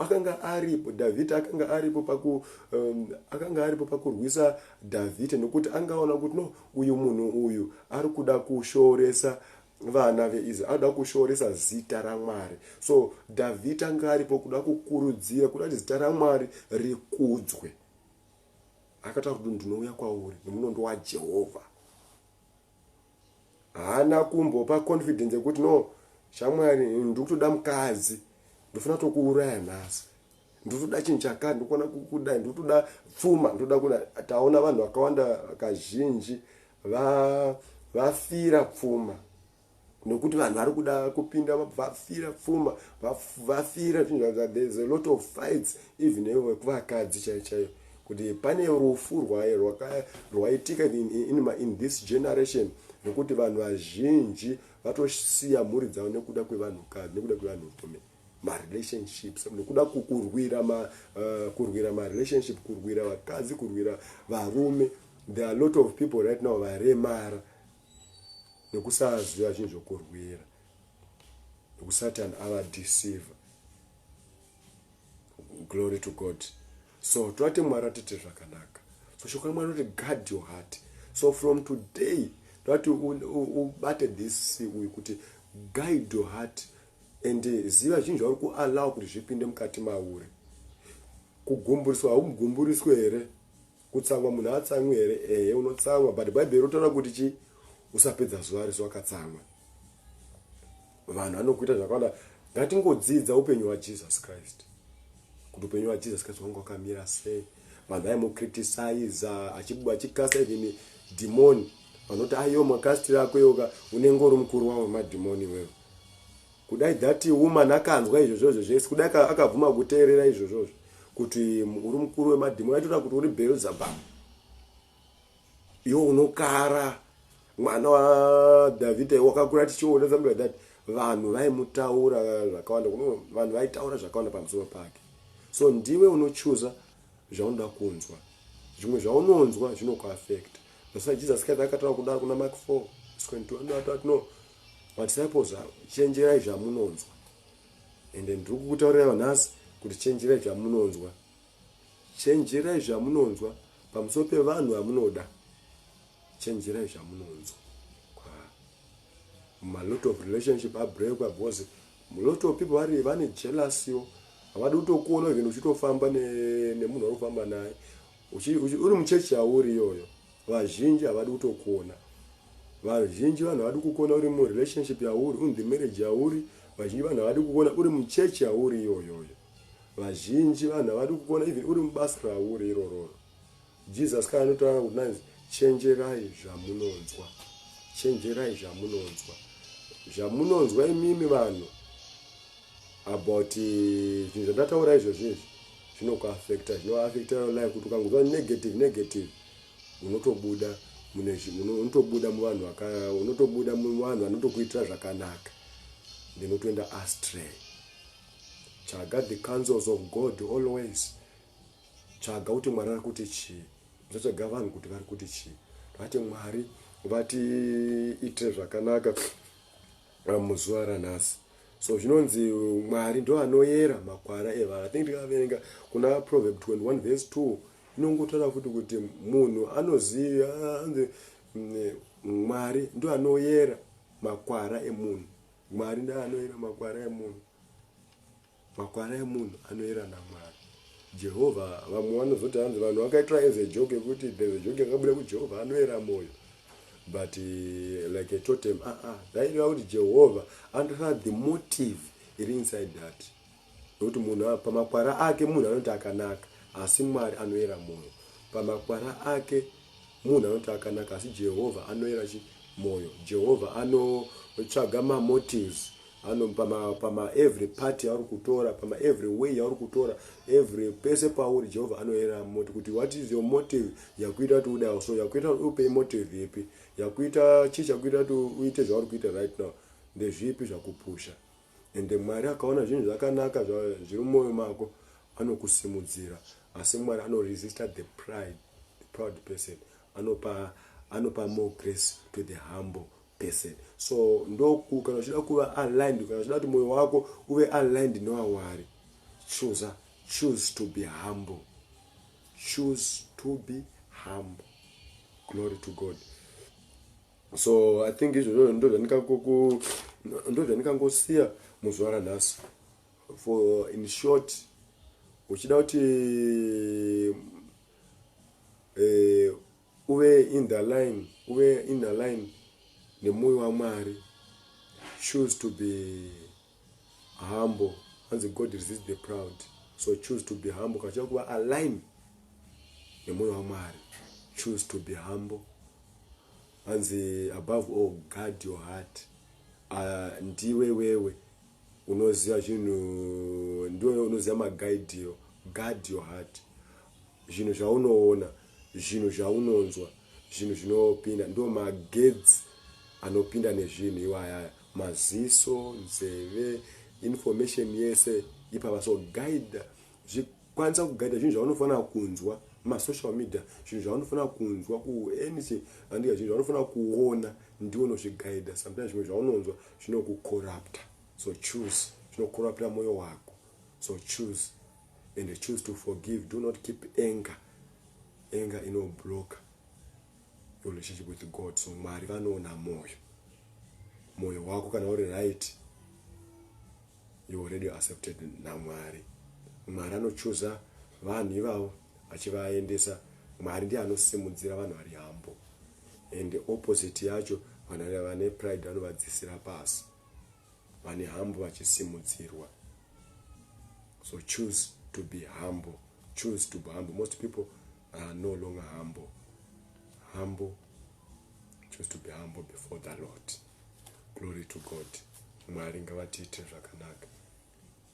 akanga aripo dhavhidha akanga aripo paku um, akanga aripo pakurwisa dhavhidha nokuti angaona kuti no uyu munhu uyu ari kuda kushooresa vana veisrael anoda kushooresa zita ramwari so dhavhidha anga aripo kuda kukurudzira kuda kuti zita ramwari rikudzwe akataura kuti ndinouya kwauri nemunondo wajehovha haana kumbopa confidence yekuti no shamwari ndikutoda mukadzi ndofana tokuuraya nhasi ndotoda chinhu chakati ndokona kudai ndotoda pfuma ndoda kuda taona vanhu vakawanda kazhinji vafira pfuma nokuti vanhu vari kuda kupinda vafira pfuma vafira zvinhu there's a lot of fights even vekuvakadzi chai chaiyo kuti pane rufu rwaye rwaitika in, in, in this generation nokuti vanhu vazhinji vatosiya mhuri dzavo nekuda kwevanhukadzi nekuda kwevanhurume marelationships nokuda kurwira ma, uh, kurwira marelationship kurwira vakadzi kurwira varume there are lot of people right now varemara nekusaziva chinhu zvokurwira nekusatan ava deceiver glory to god so tovati mwari atite zvakanaka so shoko ramwari roti guard your heart so from today tovati ubate this uyu kuti guide your heart and eh, ziva zvinhu zvauri kuallow kuti zvipinde mukati mauri kugumburiswa haumugumburiswe here Kutsamwa munhu haatsamwi here? Ehe unotsamwa but bhaibheri rinotaura kuti chi usapedza zuva rese wakatsamwa. Vanhu vanokuita zvakawanda ngatingodzidza upenyu hwaJesus Christ kuti upenyu hwaJesus Christ wanga wakamira sei vanhu vaimucritisaiza achikasa even dhimoni vanoti ayo makasitiri ako iwoka unenge uri mukuru wavo madhimoni iwewe Kudai that woman akanzwa izvozvozvo zvese kudai akabvuma kuteerera izvozvozvo kuti uri mukuru wemadhimoni aitoita kuti uri Beelzebub iwo unokara mwana waDhavhidha iwo wakakura tichiona something like that vanhu vaimutaura zvakawanda vanhu vaitaura zvakawanda pamusoro pake so ndiwe unochuza zvaunoda kunzwa zvimwe zvaunonzwa zvinokuafekta that's why jesus christ akataura kudaro kuna mark 4 no Madzitapo zvavo chenjerai zvamunonzwa and ndiri kukutaurira nhasi kuti chenjerai zvamunonzwa chenjerai zvamunonzwa pamusoro pevanhu vamunoda chenjerai zvamunonzwa malot of relationship abreakwa because lot of people vari vane jealousiyo havadi kutokuona even uchitofamba nemunhu ne waunofamba naye uri muchechi yauri iyoyo Vazhinji havadi kutokona. Vazhinji vanhu havadi kukona uri mu relationship yauri, un the marriage yauri. Vazhinji vanhu havadi kukona uri mu church yauri iyoyoyo. Vazhinji vanhu havadi kukona even uri mubasa rauri irororo. Jesus kana anotaura kuti nanzi chenjerai zvamunonzwa. Chenjerai zvamunonzwa. Zvamunonzwa imimi vanhu about eh, zvinhu zvandataura izvozvi izvi zvinokuaffecta zvinoaffecta your life kuti ukangonzwa negative negative unotobuda mune unotobuda muvanhu vaka unotobuda muvanhu vanotokuitira zvakanaka ndinotoenda astray tsvaga the councils of god always tsvaga kuti mwari ari kuti chii usatsvaga vanhu kuti vari kuti chii vati mwari vatiitire zvakanaka muzuva ranhasi so zvinonzi mwari ndo anoyera makwara evanhu i think ndikaverenga kuna proverb 21 vese 2 inongotaura futi kuti munhu anoziva anzi mm, mwari ndo anoyera makwara emunhu mwari ndo anoyera makwara emunhu Makwara emunhu anoera naMwari. Jehovha vamwe vanozoti hanzi vanhu vakaitora as a joke yekuti there's a joke yakabuda kuti Jehovha anoera moyo but eh, like a totem ah ah zvaireva kuti Jehovha anotora the motive iri inside that nokuti munhu a- pamakwara ake munhu anoti akanaka asi Mwari anoera moyo pamakwara ake Munhu anoti akanaka asi Jehovha anoyera chi moyo. Jehovha ano tsvaga ma motives ano pama pama every party auri kutora pama every way auri kutora every pese pauri Jehovha anoyera moti kuti what is your motive yakuita kuti ude so yakuita kuti upe motive ipi yakuita chii chakuita kuti uite zvauri kuita right now ndezvipi zvakupusha Ende Mwari akaona zvinhu zvakanaka zviri mumoyo mako anokusimudzira asi Mwari ano resista the pride, the proud person anopa anopa more grace to the humble person so ndoku kana uchida kuva aligned kana uchida kuti moyo wako uve aligned newawari chooser choose to be humble choose to be humble glory to god so i think izvozvo ndozvandikangosiya muzvara nhasi for in short uchida kuti eh, uve in the line uve in the line nemoyo wamwari choose to be humble hanzi god resists the proud so choose to be humble kana chava kuva align nemwoyo wamwari choose to be humble hanzi above all guard your heart uh, ndiwe wewe unoziva zvinhu ndiwe unoziva magaidiro guard your heart Zvinhu zvaunoona, zvinhu zvaunonzwa, zvinhu zvinopinda ndo magetsi anopinda nezvinhu iwayaya maziso, nzeve, information yese ipapa so guide zvikwanisa kuguida zvinhu zvaunofanira kunzwa masocial media zvinhu zvaunofanira kunzwa kuanything andika zvinhu zvaunofanira kuona ndiwo unozviguida sometimes zvimwe zvaunonzwa zvinokucorrupta so choose zvinocorrupta mwoyo wako so choose and choose to forgive do not keep anger anger inoblocker your relationship with god so mwari vanoona mwoyo mwoyo wako kana uri right you already accepted namwari mwari anochuza vanhu ivavo achivaendesa mwari ndiye anosimudzira vanhu vari hambo and opposite yacho vanhu vane pride vanovadzisira pasi vane hambo vachisimudzirwa so choose to be humble choose to be humble most people are no longer humble humble choose to be humble before the lord glory to god mwari ngavatiitire zvakanaka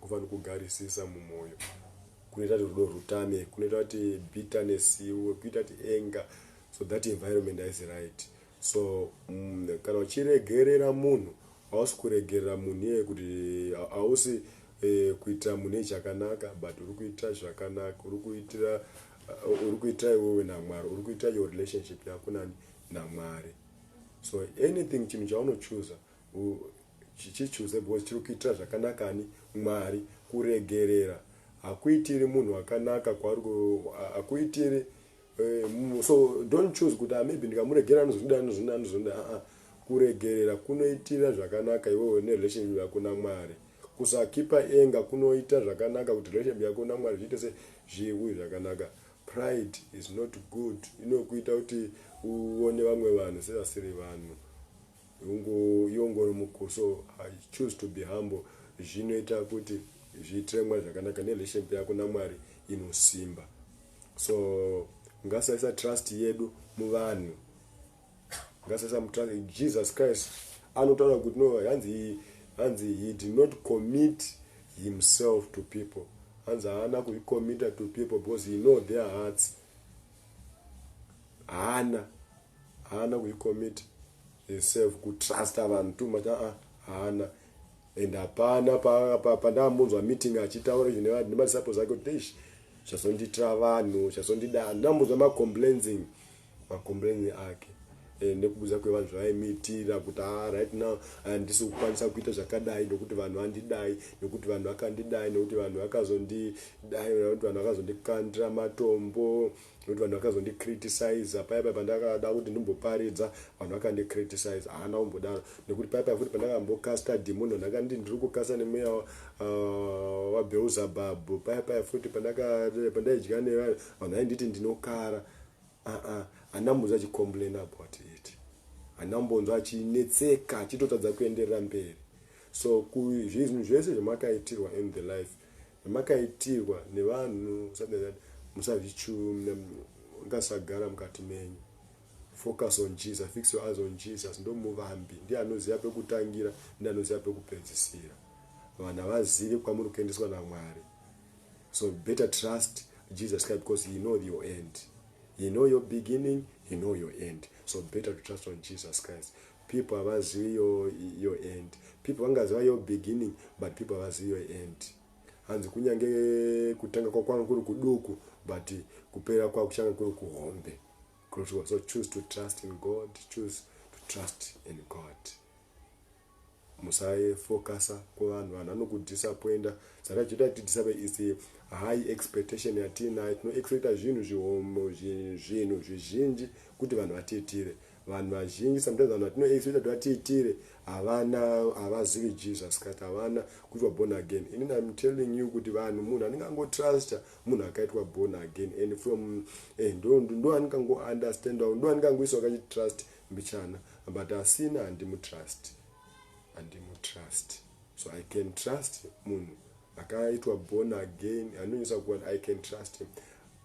Kuva nokugarisisa mumwoyo kunoita kuti rudo rutame, kunoita kuti bitterness iuye, kuita kuti anger, so that environment haisi right. So mm, kana uchiregerera munhu hausi kuregerera munhu iyeye kuti hausi eh, kuitira munhu iye chakanaka but uri kuitira zvakanaka uri kuitira uh, uri kuitira iwewe namwari uri kuitira your relationship yako nani namwari so anything chinhu chaunochuza chichichuza because chiri kuitira zvakanaka ani mwari kuregerera hakuitiri munhu akanaka hakuitiri eh, so don't choose kuti ah, maybe ndikamuregerera anozonda anozonda anozonda aa kuregerera kunoitira zvakanaka iwewe nerelationship yako namwari kusakipa enga kunoita zvakanaka kuti relationship yako namwari zviite se zviwi zvakanaka pride is not good inokuita kuti uone vamwe vanhu sevasiri vanhu Hungu yongoro mukuso choose to be humble zvinoita kuti zviitiremwa zvakanaka nerelationship yako namwari inosimba so ngasaisa trust yedu muvanhu ngasaisa mutrust jesus christ anotaura kuti no hanzi hanzi he did not commit himself to people hanzi haana kuzvicommita to people because he know their hearts haana haana kuicommit herself kutrusta vanhu too much aa haana and hapana pandambonzwa meeting achitaura izvi nemadisciples ake kuti ish zvazonditira vanhu zvazondida handinambonzwa macomplainsing macomplaining ake eh, nekubuza kwevanhu zvavaimitira kuti a ah, right now handisi kukwanisa kuita zvakadai nokuti vanhu vandidai nokuti vanhu vakandidai nokuti vanhu vakazondidai nokuti vanhu vakazondikandira matombo nekuti vanhu vakazondicriticiza paya paya pandakada kuti ndimboparidza vanhu vakandicriticiza haana kumbodaro nekuti paya paya futi pandakambokasta demon vanhu vakanditi ndiri kukasta nemweya uh, wabeuzabhabhu paya paya futi pandaidya nevanhu vanhu vainditi ndinokara aa hana mbonzwa achicomplain about it hana mbonzwa achinetseka achitotadza kuenderera mberi so zvinhu zvese zvamakaitirwa in the life Zvamakaitirwa nevanhu musazvichumna ngasagara mukati menyu. Focus on Jesus, fix your eyes on Jesus. Ndomuvambi, ndiye anoziva pekutangira, ndiye anoziva pekupedzisira. Vanhu havazive kwamuri kuendeswa naMwari. So better trust Jesus Christ because he know your end. He know your beginning, he know your end. So better to trust on Jesus Christ. People havazivi your your end. People vangaziva your beginning but people havazivi your end. Hanzi kunyange kutanga kwako kwanga kuri kuduku but kupera kwako kuchanga kuri kuhombe. So choose to trust in God, choose to trust in God. musafokasa kuvanhu vanhu vanokudisappoinda saka chiita tidisapa is high expectation yatiinayo tinoexpecta zvinhu zvihomo zvinhu zvizhinji kuti vanhu vatiitire Vanhu vazhinji sometimes vanhu vatino expecta kuti vatiitire havana havazivi Jesus Christ havana kuitwa born again. Ini I'm telling you kuti vanhu munhu anenge angotrusta munhu akaitwa born again and from eh, ndo ndo anenge ango understandawo ndo anenge angoiswa kachitrust mbichana but asina handimutrust handimutrust so I can trust munhu akaitwa born again anonyisa kuwana I can trust him.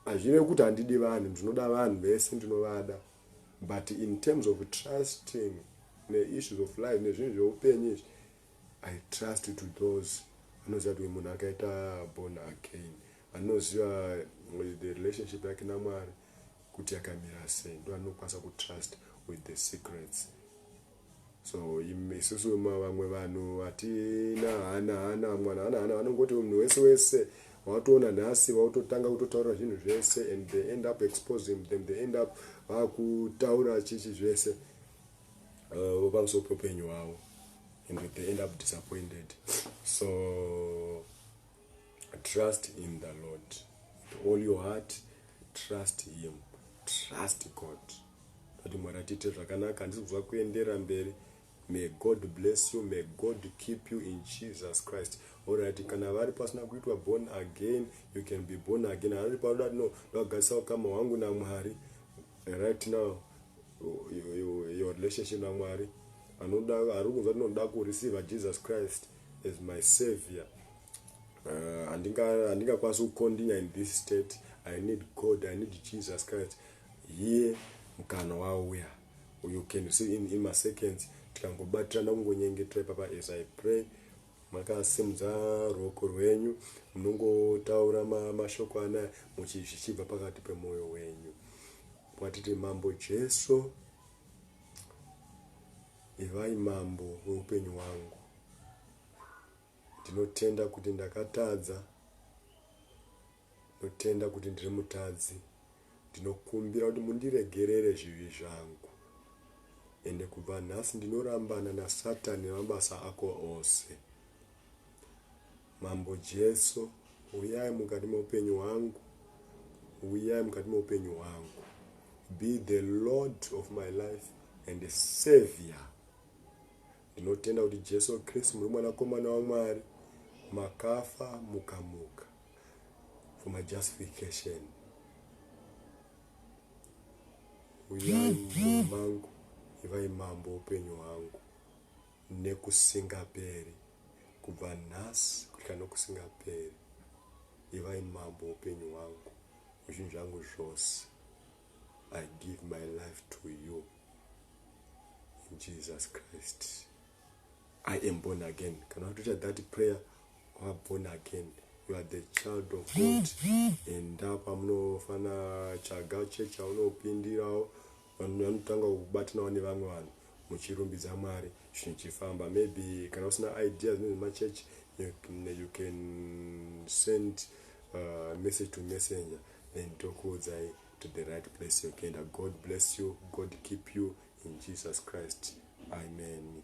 Hazvirevi kuti handidi vanhu ndinoda vanhu vese ndinovada. but in terms of trusting neissues of life nezvinhu zveupenyu izvi i trust to those vanoziva kuti munhu akaita born again vanoziva eh, the relationship yake namwari kuti yakamira sei ndo anokwanisa kutrust with the secrets so isusu vamwe vanhu hatina hana hana mwana hana hana vanongoti munhu wese wese wautoona nhasi wautotanga kutotaura zvinhu zvese and they end up exposing them they end up vakutaura chichi zvese uh, pamusoro pepenyu hwavo and they end up disappointed so trust in the lord with all your heart trust him trust god kuti mwari atiite zvakanaka handisi kuziva kuendera mberi may god bless you may god keep you in jesus christ orit kana vari pasina kuitwa born again you can be born again ari paoda ti no ndagadzisa ukama hwangu namwari right now your relationship namwari anoda ari kunzwa tinoda kureceiva jesus christ as my savior uh, handingakwanisi uh, kucontinue in this state i need god i need jesus christ here mukana wauya you can see in, in maseconds tikangobatirana kungonyengetera ipapa as i pray makasimudza ruoko rwenyu munongotaura mashoko anaya muchizvichibva pakati pemwoyo wenyu watiti mambo jesu Ivai mambo weupenyu hwangu. Ndinotenda kuti ndakatadza. Ndinotenda kuti ndiri mutadzi. Ndinokumbira kuti mundiregerere zvivi zvangu. Ende kubva nhasi ndinorambana nasatani nemabasa ako ose. Mambo Jesu huyai mukati meupenyu hwangu huyai mukati meupenyu hwangu be the lord of my life and the savior ndinotenda kuti jesu kristu muri mwanakomana wamwari makafa mukamuka for my justification uyai munhu mangu ivai mambo upenyu hwangu Nekusingaperi, kubva nhasi kusvika nokusingaperi, ivai mambo weupenyu hwangu, wezvinhu zvangu zvose. I give my life to you in Jesus Christ. I am born again. Kana watoita that prayer, you are born again. You are the child of God. Enda pamunofanira tsvaga chechi yaunopindirawo. Vanhu vanotangawo kubatanawo nevamwe vanhu muchirumbidza Mwari zvinhu zvichifamba. Maybe kana usina ideas nezvemachurch you can send uh, message to messenger then tokuudzai to the right place yokuenda. God bless you, God keep you in Jesus Christ. Amen.